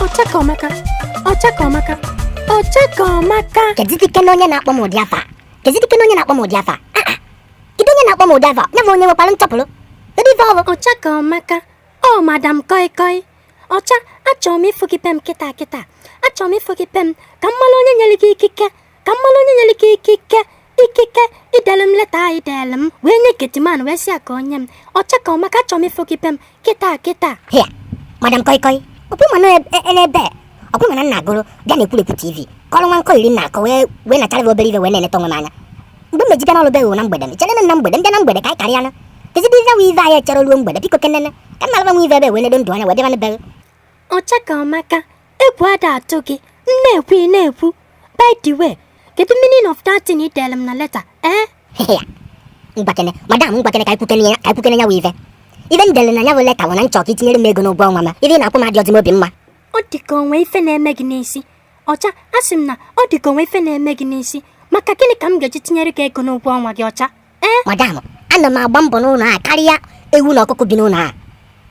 Ọchakomaka, Ọchakomaka, Ọchakomaka. Kedidike na onye na-akpọ m ụdị afa? Kedidike na onye na-akpọ m ụdị afa? Ah, ah. Kedu onye na-akpọ m ụdị afa? Ya bụ onye nwekwara nsọpụrụ. Kedu ife ọ bụ? Ọchakomaka, ọ madam koi koi. Ọcha, achọrọ m ịfụ gị be m kịta kịta. Achọrọ m ịfụ gị be m ka m mara onye nyere gị ikike ka m malụ onye nyere gị ikike ikike idere m leta a ị dere m wee nye getiman wee sị ya ka o nye m ọcha ka ọmaka achọrọ m ịfụ gị be m kịta kịta hịa madam kọịkọị ọkpụ mana n'ebe ọkpụ mana nna agụrụ bịa na ekwurekwu tv kọrọ nwa nkọ iri na akọ wee wee nachara gị obere ive wee na-eneta onwe m anya mgbe m ma-eji bịa n'ọrụ be ghị na mgbede m chere na mgbede m bịa na mgbede ka anyị karịa na kezidiza nwe ive anyị echere ruo mgbede biko kenene ka m na-alaba nwe ive ebe wee nedo ndụ anya wee bịa na be ghị ọcha ka ọmaka egwu ada atụ gị m na-ekwu ị na-ekwu by the way kedu meaning of that thing ị dere m na leta ee mgbakene madam mgbakene ka ikwukene ya ka ikwukene ya wụ ife ife m dere na ya bụ leta bụ na m chọ ka i tinyere m ego n'ụgwọ ọnwa ma ife ị na-akwụ m adịrọzị m obi mma ọ dị ka o nwe ife na-eme gị n'isi ọcha asị m na ọ dị ka o nwe ife na-eme gị n'isi maka gịnị ka m ga-eji tinyere gị ego n'ụgwọ ọnwa gị ọcha ee eh, madam ana m agba mbọ n'ụlọ a karịa ewu na ọkụkọ bi n'ụlọ a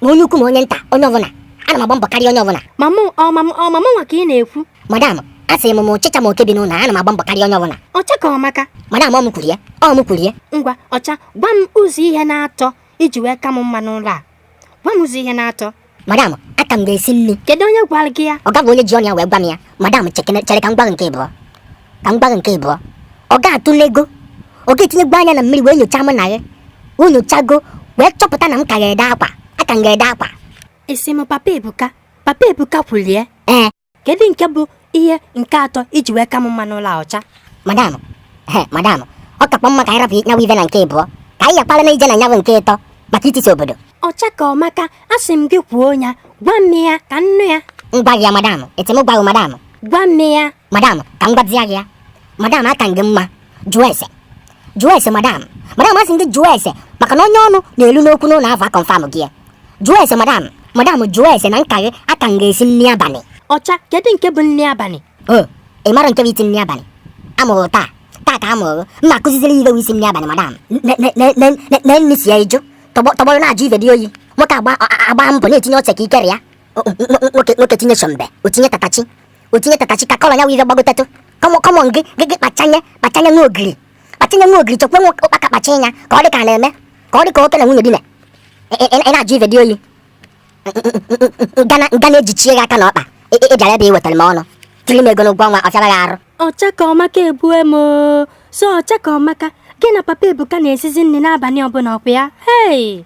ma onye ukwu ma onye nta onye ọbụla ana m agba mbọ karịa onye ọbụla ma mụ ọ ma mụ ọ ma mụnwa ka ị na-ekwu madam asị m ma ọchịcha ma oke bi n'ụlọ a ana m agba mbọ karịa onye ọbụla ọcha ka ọ maka madam ọ m kwuru ya ọ m kwuru ya ngwa ọcha gwa m ụzọ ihe na-atọ i ji wee ka m mma n'ụlọ a gwa m ụzọ ihe na-atọ madam aka m gị esi nri kedu onye gwara gị ya ọga bụ onye ji ọnụ ya wee gwa m ya madam chekene chere ka m gwa gị nke ịbụọ ka m gwa gị nke ịbụọ ọga atụlego ọga etinyego anya na mmiri wee nyochaa mụ na gị o nyochago wee chọpụta na m ka gị ede akwa aka m gị ede akwa ị sị m papa ebuka papa ebuka kwulie ee kedu nke bụ ihe nke atọ i ji wee ka m mma n'ụlọ a ọcha madam he madam ọ kakwa mma ka anyị rapụ nya wụ ive na nke ịbụọ ka anyị yakpala na ije na nya wụ nke ịtọ maka itisi obodo ọcha ka ọmaka asị m gị kwuo ya gwa m ya ka m nụ ya m gwa gị ya madam ị sị m gwa gị madam gwa m ya madam ka m gwazie gị ya madam aka m gị mma jụọ ese jụọ ese madam madam asị m gị jụọ ese maka na onye ọnụ na-elu n'okwu n'ụlọ afụ akọnfam gị ya jụọ ese madam madam jụọ ese na m ka gị aka m gị esi nri abalị ọcha kedu nke bụ nri abalị o ị mara nke bụ isi nri abalị a mụrụ taa taa ka a mụrụ m na-akụziziri ihe bụ isi nri abalị madam na nri si ya ịjụ tọgbọrọ na-ajụ ife dị oyi nwoke agba mbọ na-etinye ose ka ikere ya nwoke tinye shombo o tinye tatachi o tinye tatachi ka kọlọ ya wụ ife gbagotatụ kọmọ kọmọ gị gị gị kpachanye kpachanye nwa ogiri kpachanye nwa ogiri chọkwa nwa ụkpaka kpacha ya ka ọ dị ka a na-eme ka ọ dị ka oke na nwunye dine ị na-ajụ ife dị oyi ngana ngana ejichie gị aka na ọkpa ị bịara ebe ị wetara m ọnụ tiri m ego n'ụgwọ ọnwa ọ fịara gị arụ ọcha ka ọmaka egbue m oo. so ọcha ka ọmaka gị na papa ebuka na-esizi nri n'abalị ọbụla ọ kwa ya hei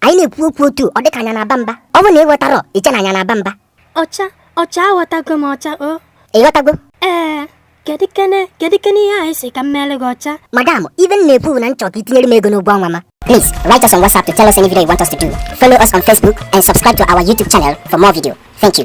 anyị na-ekwu okwu otu ọ dịka anyị na-aba mba ọ bụ na ị ghọtarọ i chee na anyị na-aba mba ọcha ọcha aghọtago m ọcha o ị ghọtago ee kedu kene kedu kene ihe ị sị ka m meere gị ọcha madam ive m na-ekwu bụ na m chọ ka i tinyere m ego n'ụgwọ ọnwa m Please write us on WhatsApp to tell us any video you want us to do. Follow us on Facebook and subscribe to our YouTube channel for more video. Thank you.